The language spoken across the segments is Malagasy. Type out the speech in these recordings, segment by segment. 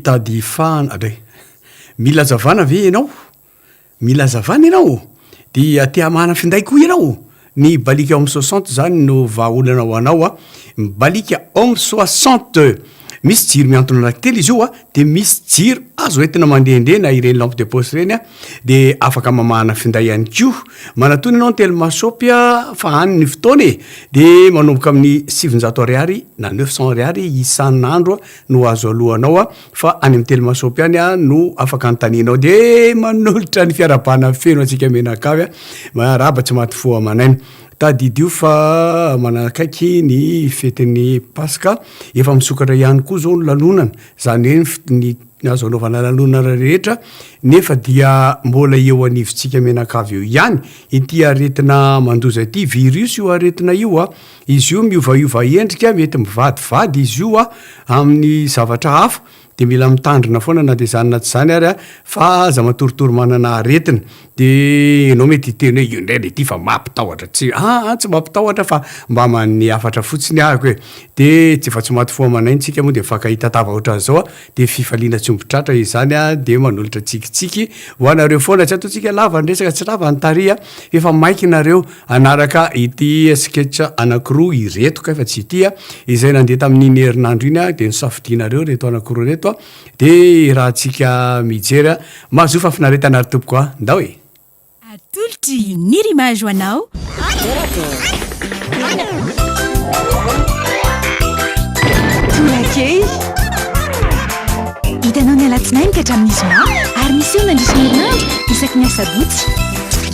Mitady fahana ve? Mila hazavana ve ianao? Mila hazavana ianao? Dia te hamahana finday koa ianao? Ny Balika Homme Soixante zany no vahaolana ho anao a! Balika Homme Soixante! Misy jiro mihantona anankitelo izy io a! Dia misy jiro azo entina mandehandeha na ireny lampe de poche ireny a! Dia afaka mamahana finday ihany koa! Manatona ianao ny Telma Shop a! Fa any ny fotoana e! Dia manomboka amin'ny sivinjato ariary na neuf cents ariary isan'andro a! no azo alohanao a, fa any amin'ny telo masopi any a no afaka anontanianao de manolotra ny fiarabana feno antsika mianakavy a, miarahaba tsy maty fo aman'aina. Tadidio fa manakaiky ny fetin'ny paska, efa misokatra ihany koa zao ny lanonana, zany hoe ny fo- ny azo anaovana lanonana rehetra, nefa dia mbola eo anivontsika mianakavy eo ihany ity aretina mandoza ity, virus io aretina io a, Izy io miovaova endrika, mety mivadivady izy io amin'ny zavatra hafa, dia mila mitandrina foana na dia izany na tsy izany ary fa aza matoritory manana aretina. Dia ianao mety hiteny hoe io indray ilay tia fa mampitahotra, tsy, aa tsy mampitahotra fa mbaman'ny hafatra fotsiny ahiko e! dia tsy efa tsy maty fo amanay ny tsika moa dia mifankahita tava ohatran'izao dia fifaliana tsy omby tratra izany dia manolotra tsikitsiky ho anareo foana, tsy ataontsika lava ny resaka, tsy lava ny tary a! efa maiky nareo. Hanaraka ity sketch anankiroa ireto kay fa tsy ity a, izay nandeha tamin'iny herinandro iny a, dia nosafidianareo ireto anankiroa ireto a, dia irahantsika mijery a, mahazoa fahafinaretana ry tompoko a, ndao e! Atolotry ny RIMAGE ho anao Tolakely! Hitanao ny alatsinainy ka hatramin'ny zoma ary miseho mandritra ny herinandro isaky ny asabotsy.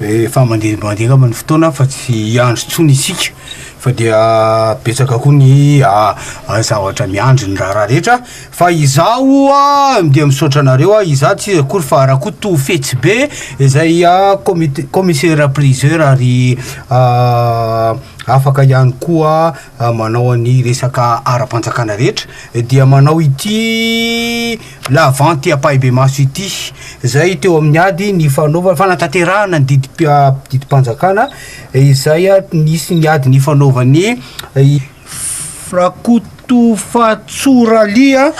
Efa mandeha mandeha angamba ny fotoana fa tsy hiandry intsony isika fa dia betsaka koa ny a- a- zavatra miandry ny raharaha rehetra fa izaho a dia misaotra anareo a izaho tsy iza akory fa Rakoto Fetsibe izay a commit- commissaire priseur ary a afaka ihany koa manao ny resaka ara-panjakana rehetra dia manao ity la vente ampahibemaso ity zay teo amin'ny ady ny fanaovana fanatanterahana ny didy didim-panjakana izay nisy ny ady ny fanaovany Rakotofatsoralia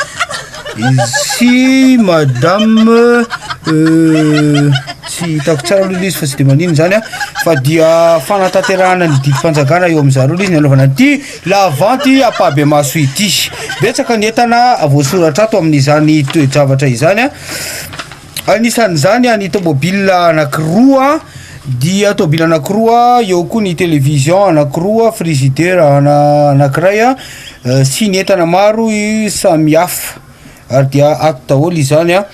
Izy madame tsy hitako tsara aloha ilay izy fa tsy dia manino izany an, fa dia fanatanterahana ny didim-panjakana eo amin'izany aloha ilay izy ny anaovana an'ity la vente ampahibemaso ity. Betsaka ny entana voasoratra ato amin'izany toe-javatra izany an. Anisan'izany ny tômôbila anankiroa, dia tômôbila anankiroa, eo koa ny télévision anankiroa, frigidaire ana- anankiray a, sy ny entana maro i- samy hafa, ary dia ato daholo izany an,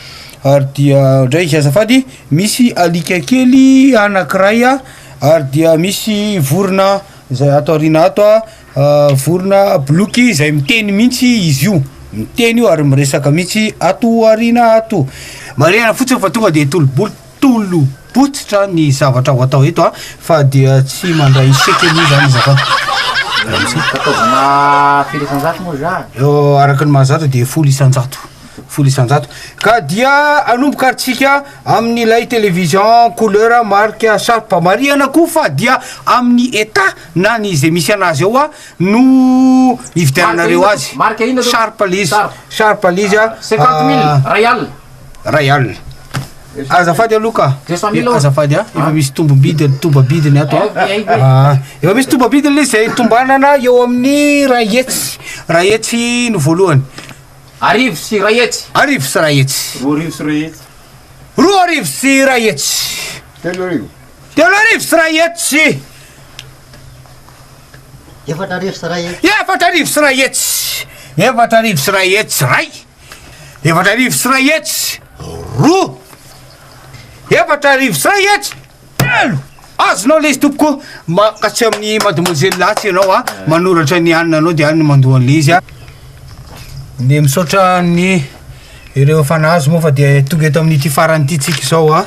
ary dia ndray izy azafady, misy alika kely anankiray ary dia misy vorona zay ato aoriana ato a. Vorona boloky izay miteny mihitsy izy io, miteny io ary miresaka mihitsy ato aoriana ato. Marihana fotsiny fa tonga dia tolo-bolo, tolo-botsitra ny zavatra ho atao eto fa dia tsy mandray chèque aloha izany izakato. Araka ny maha-zato dia folo isan-jato, folo isan-jato. Ka dia hanomboka ary tsika amin'ilay television couleur marque Sharp. Marihana koa fa dia amin'ny Etat. Na ny izay misy anazy ao a no ividiananareo azy. Marque inona tompoko? Sharp le izy. Sharp le izy a. Cinquante mille, ray alina. Ray alina. Azafady aloha ka. Deux cent mille. Azafady a. Efa misy tombom-bidy tombabidiny ato a. Ah, Efa misy tombabidiny le izy izay tombanana eo amin'ny ray hetsy. Ray hetsy no voalohany. Arivo sy ray hetsy. Arivo sy ray hetsy. Roa arivo sy ray hetsy. Roa arivo sy ray hetsy. Telo arivo. Telo arivo sy iray hetsy sy Efatra arivo sy iray hetsy. Efatra arivo sy iray hetsy. Efatra arivo sy iray hetsy iray. Efatra arivo sy iray hetsy roa. Efatra arivo sy iray hetsy telo. Azonao lezy tompoko. Mankasy amin'ny mademoiselle Latsy ianao a. Ah. Manoratra ny anina anao dia aniny mandoa an'ilezy a. Ah. Dia misaotra ny ireo fanahy azy moa fa dia tonga eto amin'ity farany ity tsika izao a. Ah.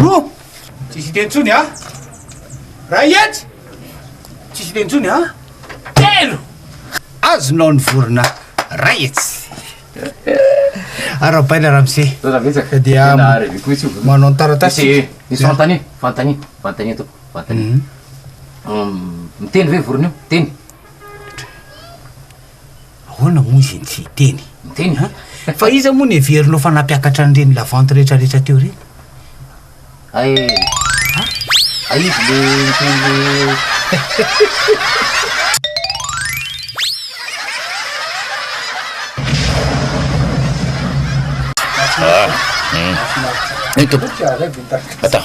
Roa! Tsisy hiteny intsony a! Ray hetsy! Tsisy hiteny intsony a! Telo! Azonao ny vorona ray hetsy! Arahabaina ramose. Taona betsaka. Ka dia Tena reveko mihitsy io. manao ny taratasy. Ese- Ese fanontania, fanontania, fanontania tompoko, fanontania. Hum, miteny ve vorona io? Miteny. Ahoana moa izy tsy hiteny? Miteny an! Fa iza moa no heverinao fa nampiakatra an'ireny lavanty rehetrarehetra teo ireny? Hay e! Hay izy le niteny. Mahafinaritra. Mahafinaritra. Ny tompoko. Atao.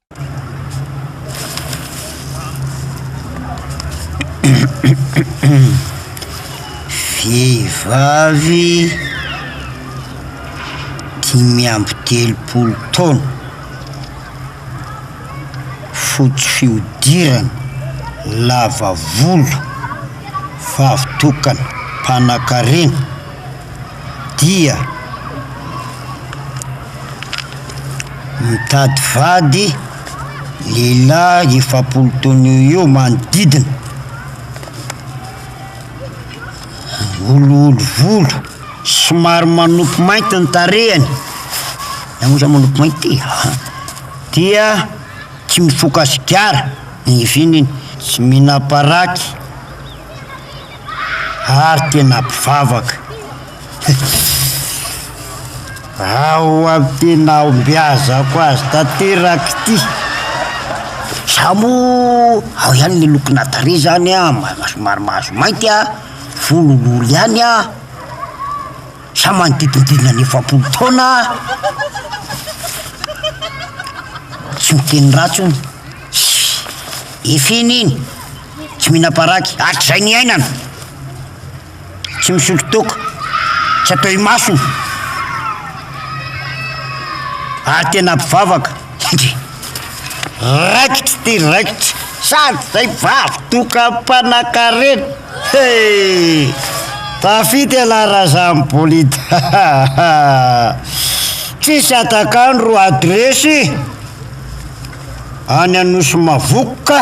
Vehivavy dimy amby telopolo taona, fotsy fihodirana, lava volo, vavy tokana, mpanankarena. dia mitady vady lehilahy efapolo taona eo eo manodidina, olioly volo, somary manopy mainty ny tarehiny, izaho moa zany manopy mainty e, dia tsy mifoka sigara, ny izy iny tsy mihinam-paraky. ary tena mpivavaka. Ao amin'ny tena ombiazako azy tanteraka ity. Za moa ao ihany ny lokona tarehy izany a, somary mahazo mainty a, volo olioly ihany a, za manodidididina ny efapolo taona a, tsy miteny ratsy hono, efa iny iny. tsy mihinam-paraky hatrizay niainana, tsy misotro toaka, tsy atao imasony, ary tena mpivavaka, endrey! raikitra ty raikitra, sady zay vavy toaka mpanakarena, he! tafita ialahy raha za mibolit, hahaha, tsisy hatak'andro adresy any Anosy Mavokoka.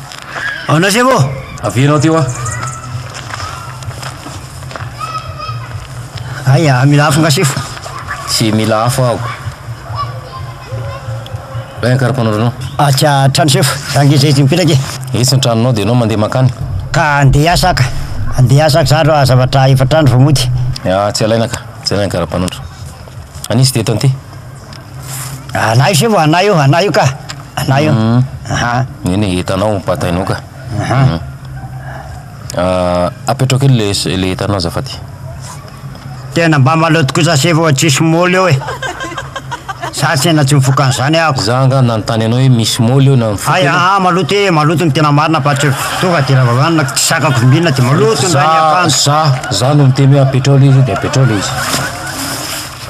Ao na sebo ô! Avela ao ty hoa! Aia, mila afo nga sefo? Tsy mila afo aho. Lay ankarampanondro anao. Atsy an-trano sefo, za nge zay izy mipetraka e! Etsy ny tranonao dia ianao mandeha mankany. Ka andeha hiasa aho ka! Andeha hiasa aho ka zandry hoa, zavatra efatra andro vao mody. Atsy alaina ka! Jerena ny ankarampanondro. An'iza ity eto an'ity? Anay se vao anay io, anay io ka, anay io, aha. Eny e, entanao, batainao ka. Aha. Apetraho kely le s- le entanao azafady. Tena mba maloto kosa se vao tsisy moly eo e. Za tena tsy mifoka an'izany ahako. Za angaha nanontany anao hoe misy moly eo na mifoka Hay, ianao? aha, maloto e, maloto ny tena marina fa tsy tonga de raha vao hohanina tsy sakako vimbinina de maloto ny Za, rain'ny akanjo. za, za no miteny hoe apetraho le izy de apetraho le izy.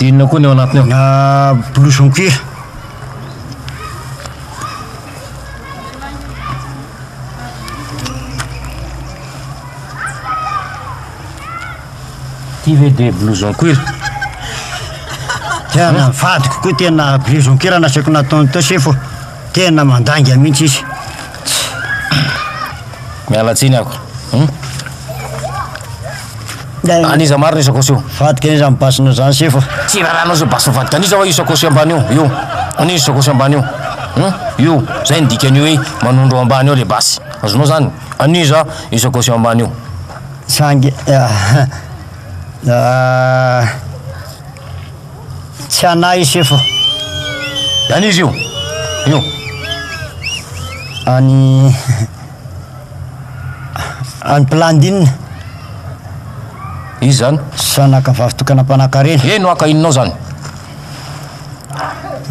Inona koa ny ao anatiny ao? Ah, blouson cuir. Ty ve dia blouson cuir? Tena ny vadiko koa tena blouson cuir no asaiko nataony teo sefo. Tena mandainga mihitsy izy. Miala tsiny ako. Hum? An'iza marina io sakosy io? Vadiko an'iza ny basina zany sefo? Tsy rarahanao zao basy vadiko an'iza wa io sakosy ambany io? Io. An'iza sakosy ambany io? Hum? Io. Zay ny dikan'io hoe manondro ao ambany ao le basy. Azonao zany? An'iza io sakosy eo ambany io? Sangy. Ah. Tsy anay i sefo. An izy io. Io. Any any Plandine. Izy zany? Zanaka vavy tokana mpanakarena. Eny waka inonao zany?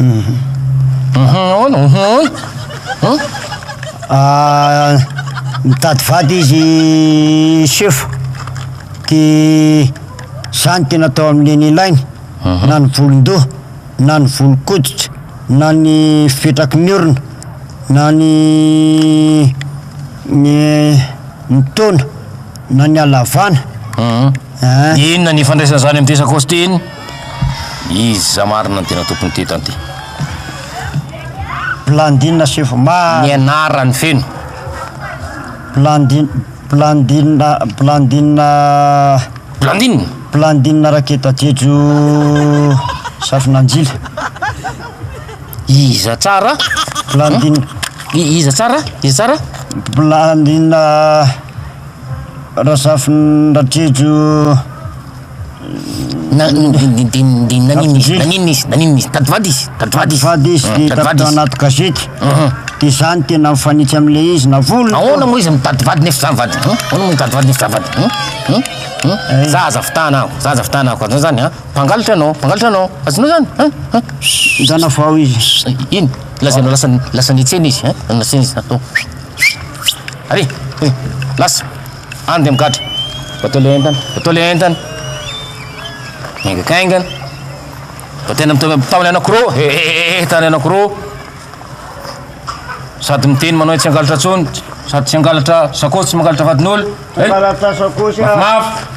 Mhm. Mhm ahoana? Mhm ahoana? Hum? Ah, mitady vady izy sefo. Ty Izany dia natao amin'ny eny ilainy, na ny volon-doha, na ny volon-koditra, na ny fipetraky ny orona, na ny ny taona, na ny halavana. Hum. Inona ny ifandraisan'izany amin'i Jeso Akosty iny? Iza marina no tena tompon'ny tetany ity? Blandine Sefo Maro. Ny anarany feno. Blandine, Blandine Blandine Blandine Raketa Jejo Safonanjila Iza tsara? Blandine Iza tsara? Iza tsara? Blandine Razafindrajejo Na- n- n- n- dia- dia naninona izy naninona izy naninona izy tady vady izy tady vady izy Vady izy, Tady hita vady tao izy. anaty gazety. Mhm. Dia izany tena mifanitsy amin'ilay izy, na volony. Ahoana moa izy mitady vady nefa zany vady? Hum? Ahoana moa mitady vady nefa zany vady? Hum? Hum? Hum? Eh. Za aza fitahana aho, za aza fitahana aho, azonao zany ha? Mpangalatra anao, mpangalatra anao, azonao zany ha? Ha? Zana vao izy. Eh, Ino? Lazainao lasa lasa nitsena izy ha? Lasa nitsena izy. Atao. Allez, eh, lasa. Any dia migadra. Atao ilay entana. Atao ilay entana. Miaingakaingana. Fa tena mitaona anankiroa. He he he he tany anankiroa. Sady miteny manao tsy hangalatra intsony. Sady tsy hangalatra sakaosy, tsy mangalatra vadin'olona. Hangalatra sakaosy aho. Mafimafy.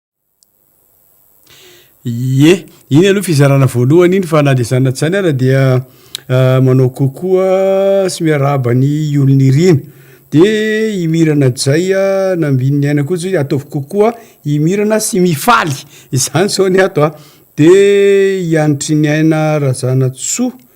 Ie, iny aloha fizarana voalohany iny fa na dia izany na tsy izany ara dia manao kokoa sy miarahaba ny olo nirina, de i Mira Najaï Nambin'i Niaina koa zao ataovy kokoa i Mirana sy Mifaly, izany zao ny ato a, de i Anitriniaina Razanantsoa.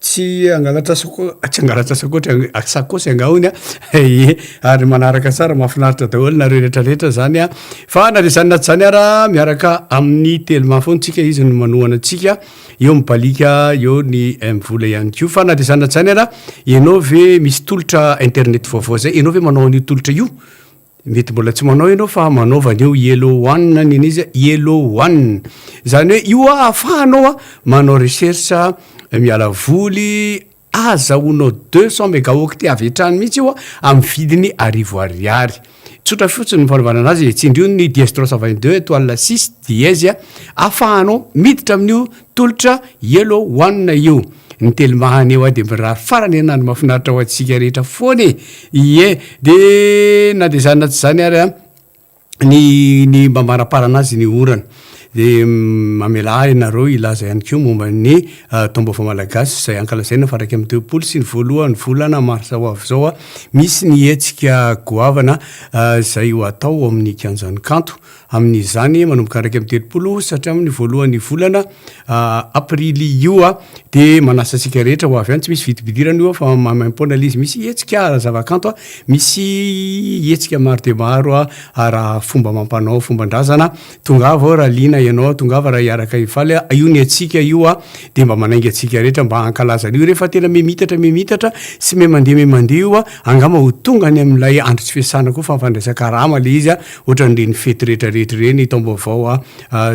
Tsy hangalatra sako, tsy hangalatra sakoatra, sakosy angaha hoy ny ahy, ie, ary manaraka tsara, mahafinaritra daholo nareo rehetra rehetra zany an, fa na de zany na tsy zany ara miaraka amin'ny telma foana tsika izy no manohana antsika, eo ny balika, eo ny mvola ihany koa, fa na de zany na tsy zany ara, ianao ve misy tolotra internet vaovao zay, ianao ve manao an'io tolotra io? Mety mbola tsy manao ianao fa manaova an'io Yellow One ny an'izy, Yellow One. Izany hoe io ahafahanao a manao recherche miala voly, ahazahoanao deux cent megaoctet avy hatrany mihitsy io a, amin'ny vidiny arivo ariary. Tsotra fotsiny ny fanaovana an'azy e, tsindrio ny diastrose vingt deux étoile six dièse a, ahafahanao miditra amin'io Tolotra yellow one io. Ny telimahany eo aho dia mirary farany anany mafinaritra ho antsika rehetra foana e! ie de na de zany na tsy zany ary an ny ny mba manaparana azy ny orana de mamelà ahy nareo hilaza ihany koa momba ny taom-baovao malagasy zay ankalazaina fa raika amby telopolo sy ny voalohan'ny volana marsa ho avy zao misy ny hetsika goavana zay ho atao ao amin'ny kianjan'ny kanto Amin' izany, manomboka iraika amby telopolo sy hatramin' ny voalohan' ny volana Aprily io a, dia manasa antsika rehetra ho avy any, tsy misy vidibidirana io a, fa maimaim-poana ilay izy, misy hetsika ara-zavakanto a, misy hetsika maro dia maro a, ara-fomba amam-panao, fomban-drazana, tongava ao raha liana ianao, tongava raha hiaraka hifaly a, io ny antsika io a, dia mba manainga antsika rehetra mba hankalaza an' io, rehefa tena miha-miitatra miha-miitatra sy miha-mandeha miha-mandeha io a, angamba ho tonga any amin' ilay andro tsy fiasana koa fa fandraisan-karama ilay izy a, Ohatran'ireny fety rehetrarehetra ireny, ny taom-baovao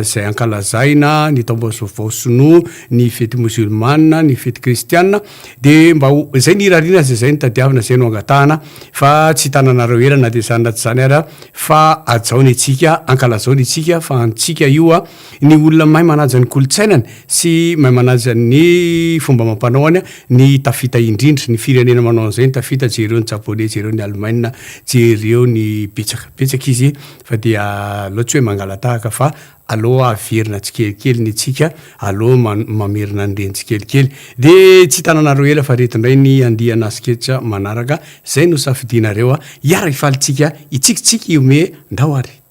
izay ankalazaina, ny taom-baovao sinoa, ny fety mozilmana, ny fety kristiana, dia mba ho, izay no irariana azy, izay no tadiavina, izay no angatahana, fa tsy hitananareo ela na dia izany na tsy izany ary aho, fa hajao ny antsika, hankalazao ny antsika, fa antsika io, ny olona mahay manaja ny kolontsainany sy mahay manaja ny fomba amam-panaony ny tafita indrindra, ny firenena manao an'izay ny tafita, jereo ny japoney, jereo ny alemaina, jereo ny betsaka, betsaka izy fa dia aleo tsy hoe mangalatahaka fa aleo averina tsikelikely ny antsika, aleo mamerina ny reny tsikelikely. Dia tsy hitananareo ela fa ireto indray ny andiana sketch manaraka izay nosafidianareo, hiara-hifaly tsika hitsikitsiky hihomehy, ndao ary.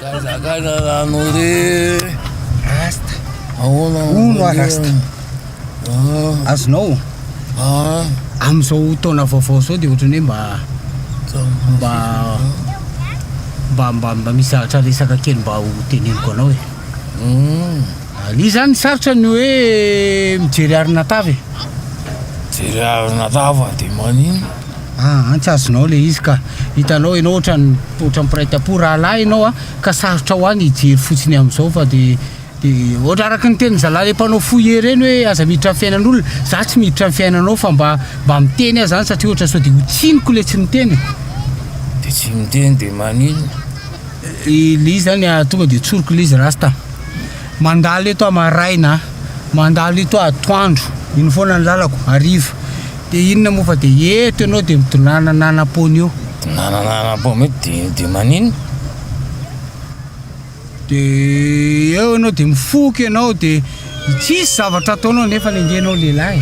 Zakazaka rano re Rasta Ahoana Ono a Rasta ah. Azonao ah. Amin'izao taona vaovao izao dia ohatran'ny hoe mba mba mba mba mba misy zavatra resaka kely mba ho teneniko anao e hmm. Ny zany sarotra ny hoe mijery arina tava e Mijery arina tava dia manino Ah an tsy azonao le izy ka. Hitanao enao otrany otrany mpiray tampo rahalahy enao a ka sarotra ho any hijery fotsiny amzao fa de de ohatra araky ny tenin'ny zalahy le mpanao fouillé reny hoe aza miditra am fiainan'olona za tsy miditra am fiainanao fa mba mba miteny aza any satria ohatra sao de ho tsiniko le tsy miteny de tsy miteny de maninona le izy zany tonga de tsoriko le izy rasta Mandalo eto aho maraina a! Mandalo eto aho atoandro, iny foana ny lalako, hariva. Dia inona moa fa dia eto ianao dia midonàna nanam-poana eo. Midonàna nanam-poana eo dia dia maninona? Dia eo ianao dia mifoka ianao dia tsisy zavatra ataonao nefa ny angenao lehilahy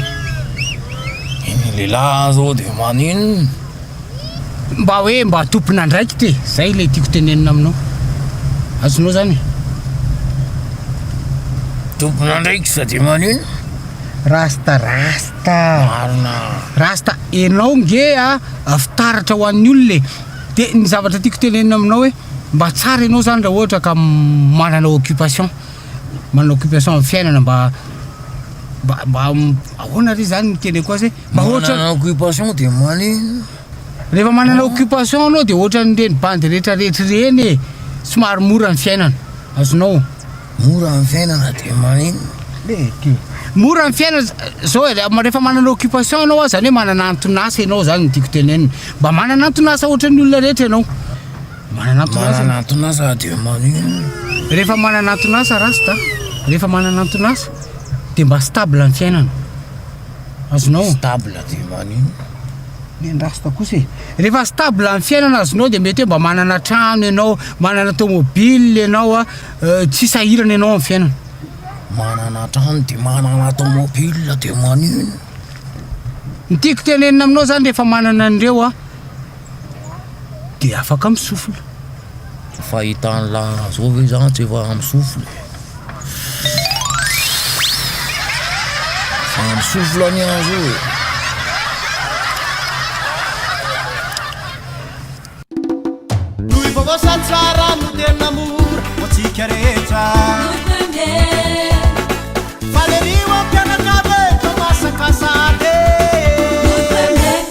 e! Ny lehilahy aza eo dia maninona? Mba hoe mba tompon'andraikitra e! Zay ilay tiako tenenina aminao. Azonao zany e! Tompon'andraikitra de manino? Rasta rasta. Marina. Rasta enao nge a fitaratra ho an'ny olona e! De ny zavatra tiako tenenina aminao hoe mba tsara enao zany raha ohatra ka manana occupation, manana occupation amin'ny fiainana mba mba mba ahoana re zany ny teneko azy hoe. Mba ohatran Manana occupation dia manino? Rehefa manana occupation anao dia ohatran'ireny bandy rehetra rehetra ireny e, somary mora ny fiainana, azonao. Mora ny fiainana dia manino? Mora ny fiainana za- zao e, ma- rehefa manana occupation ianao a, zany hoe manana anton'asa ianao zany ny tiako tenenina, mba manana anton'asa ohatran'ny olona rehetra ianao, manana anton'asa Manana anton'asa dia manino? Rehefa manana anton'asa rasta, rehefa manana anton'asa dia mba stable ny fiainana. azonao. Stable dia maninona? Ny an'i Rasta kosa e. Rehefa stable ny fiainana azonao dia mety hoe mba manana trano ianao, manana tomobile ianao, euh, tsy sahirana ianao amin'ny fiainana. Manana trano dia manana tomobile dia maninona? Ny tiako tenenina aminao izany rehefa manana an'ireo an, dia afaka misofina. Fahita anla zao ve za tsy efa misofina e. Efa misofina anie aho zao e. Noho i vaovao sady tsara no tena mora ho antsika rehetra. Falerio am-pianakavy e, fa masaka sahady e.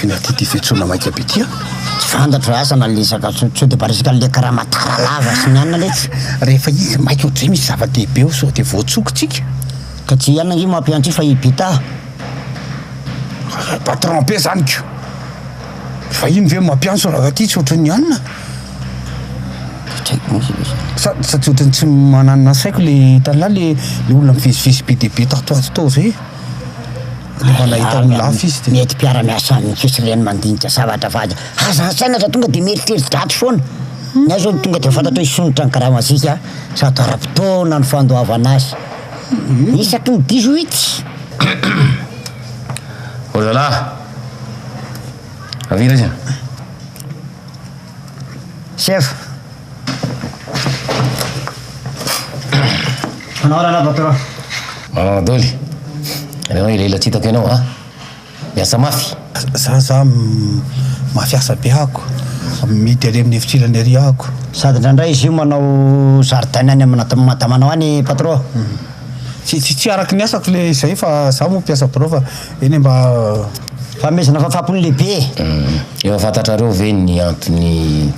Vina ty ty fetsona maika be ty a! Tsy fantatro asa na le zakatsony sao de mba resaka le karama tara lava sy ny anona letsy. Rehefa izy maika ohatry zay misy zava-dehibe ao sao de voatsoky tsika. Ka tsy ianona nge mampiha antsika fa i Bita. Ry patron be zany ko! Vahiny ve mampiantso raha ty tsy ohatry ny anona? Tsy haiko moa zany. Sa sa tsy ohatry ny tsy mananona saiko le hitanla le le olona mivezivezy be dia be tato ho ato tao zay? Mba nahita olona hafa izy dia. Mety mpiara-miasa aminy fotsiny ireny mandinika zavatra fa aza aza an-tsaina fa tonga dia mieritreritra daty foana. Ny ahy izao tonga dia fantatra hoe hisondrotra ny gramazika sady ara-potoana ny fandoavana azy. Isaky ny dix-huit. Olala! Avy aiza? Chef. Manao ahoana anao patron? Ah Doly, ianao ilay ila tsy hitako ianao a! Miasa mafy. Za za mafy asa be ako, mihidy ary amin'ny efitrelany ary ako. Sady indraindray izy io manao zaridaina any amina madamanao any patron. Tsy tsy tsy araky ny asako le izay fa za moa mpiasa birao fa Eny e, mba fanomezana fahafapo ny lehibe e! Efa fantatrareo ve ny antony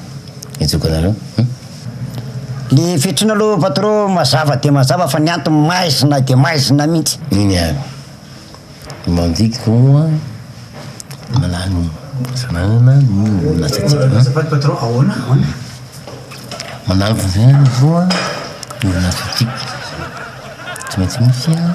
nijokany aloha? Le fetrina aloha patro mazava dia mazava fa ny antony maizina dia maizina mihitsy. Eny ary. Ny mandikiko moa manahy ny fananana ny orin'asantsika. Azafady patro, ahoana? Ahoana? Manahy ny fananana aloha ny orin'asantsika. Tsy maintsy misy an!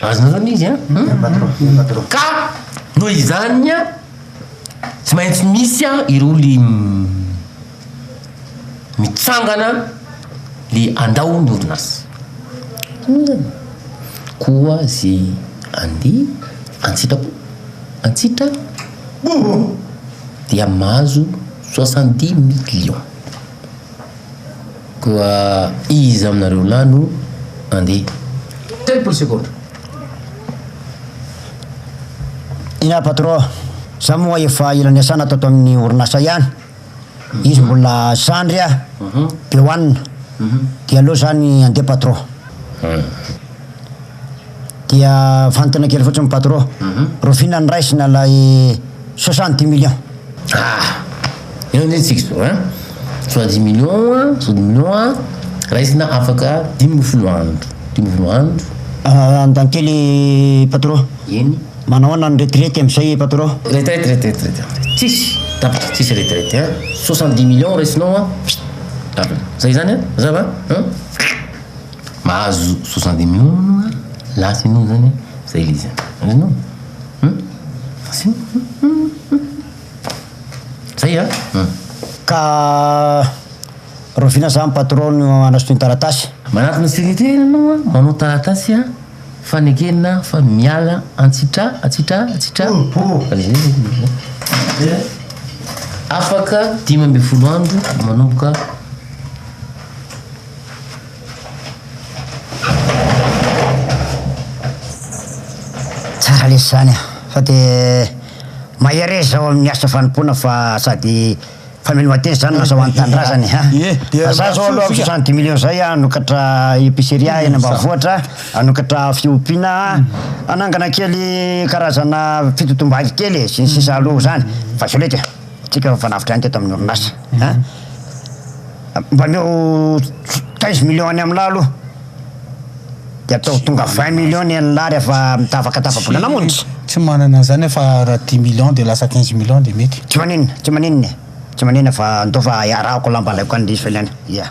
Azonao zany izy an? Hmm? Ka noho izany tsy maintsy misy ireo le mitsangana le andao ny orinasa. Hmm. Koa ze andeha antsitrapo antsitra dia mahazo soixante dix millions. Koa iza aminareo lahy no handeha? Telopolo segondra. Ina patron, za moa efa ela niasana tato amin'ny orinasa ihany, izy mbola zandry a Beoanina, dia aleo zany handeha patron. Dia vantoana kely fotsiny patro. Rofina ny raisina ilay soixante dix millions. Ah! Eo ny antsika izao an! Soixante dix millions an, soixante dix millions an, raisina afaka dimy ambin'ny folo andro. Dimy ambin'ny folo andro. Ah, Andantely patro. Eny. Manao ahoana ny retraite amin'izay patro? Retraite, retraite, retraite. Tsisy! Tapitra, tsisy retraite an! Soixante dix millions raisinao an! Tapitra. Izay izany an! Mazava an! Mahazo soixante dix millions anao a lasa enao zany a zay le izy a azonao hum asio zay a hum. Ka rovina sa ny patron no anasontony taratasy? Manatona secretaire anao a manao taratasy a fanekena fa miala antsitra antsitra antsitra afaka dimy ambin'ny folo andro manomboka Tsara lesy zany a! Fa de mahereza ao amin'ny asa fanompoana fa sady mpamely mateza zany no asa ho an'ny tanindrazana e! He! Fa za zao aloha soixante dix millions zay a, hanokatra epiceria eny ambanivohitra, hanokatra fiompiana, hanangana kely karazana fitotom-bady kely e, sy ny sisa aloha zany, fa zao lety a! Tsika mifanafotra ihany teto amin'ny orinasa a! Mba omeo quinze millions any amin'lah aloha, dia ataovy tonga vingt millions ny an'lah rehefa mitavaka tapa-bola namonjy. Tsy manana an'izany aho fa raha dix millions dia lasa quinze millions dia mety. Tsy maninona, tsy maninona e! Tsy maninona fa ndao fa iarahako lamba alaiko any diso ilaina, ia!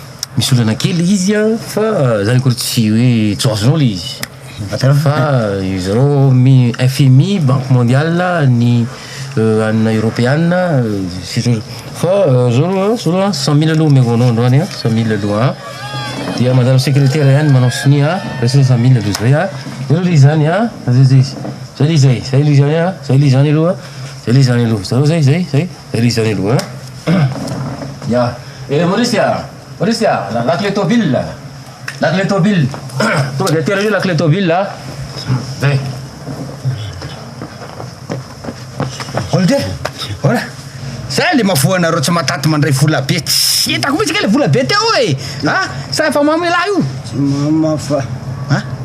Misy olana kely izy an, fa zany akory tsy hoe tsy ho azonao le izy. Fa izareo mi FMI, banque mondiale, ny anina eropeana, sy ny sisa Fa zao aloha zao aloha cent mille aloha omeko anao androany an, cent mille aloha an, dia mandalo secretaire ihany manao sonia an, reseo cent mille aloha zay an, zay aloha le izy zany an, zay le izy zany an, zay le izy zany aloha, zay le izy zany aloha, zareo zay, zay, zay. Ery izao ny loha an. Ya. Ery Maurice a! Maurice a! Lakile tôbila! Lakile tôbila! Tonga dia atera io lakile tôbila a! Zay. Olde! Ora! Zay le mavoa anareo tsy mataty mandray vola be tsy hitako mihitsy nge le vola be teo e! Ha? Sa efa mamy lahy io? Tsy mamy aho fa. Ha?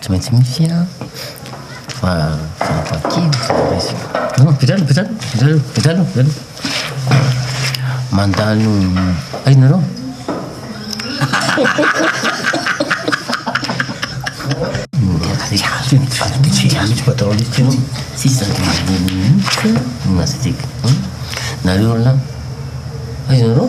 Tsy maintsy misy a fa mandalo ay nareo nareo lahy ay nareo.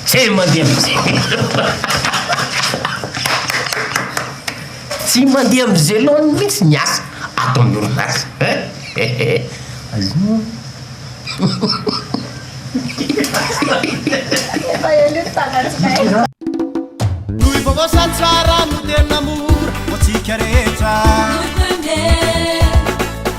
Tsy mandeha mijelona. Tsy mandeha mijelona mihitsy ny asa ato amin'ny orinasa. Azonao. Efa ela io tsanatsinay. Noho i vaovao sady tsara no tena mora ho antsika rehetra. Noho i premier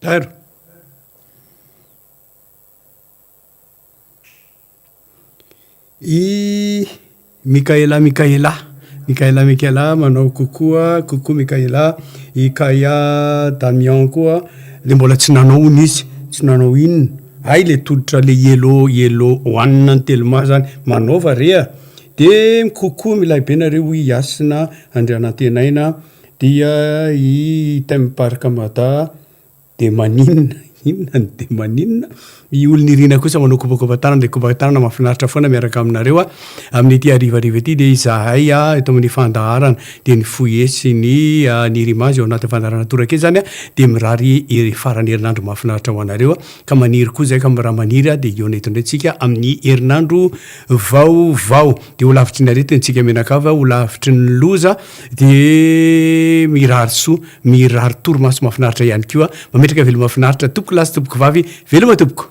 Tairo. I Mikaela Mikaela Mikaela Mikaela manao coucou a, coucou Mikaela, i Kaia Damian koa le mbola tsy nanao hono izy, tsy nanao inona, hay le tolotra le yellow yellow one an'i Telma zany, manaova re a, de coucou milay be nareo i Hasina Andrianantenaina. Dia i Theme Park Mada dia maninona? Inona no dia maninona? I Olo Nirina kosa manao kopakopa tanana dia kopaka tanana mahafinaritra foana miaraka aminareo amin'ity harivariva ity dia izahay eto amin'ny fandaharana dia ny foyer sy ny Nirima izay ao anatin'ny fandaharana toraka eto izany dia mirary faran'ny herinandro mahafinaritra ho anareo ka maniry koa izahay ka raha maniry dia hihaona eto indray isika amin'ny herinandro vaovao. dia ho lavitry ny aretin-tsika mianakavy aho, ho lavitry ny loza, dia mirary soa, mirary torimaso mafinaritra ihany koa, mametraka veloma finaritra, tompoko lahy sy tompoko vavy, veloma tompoko.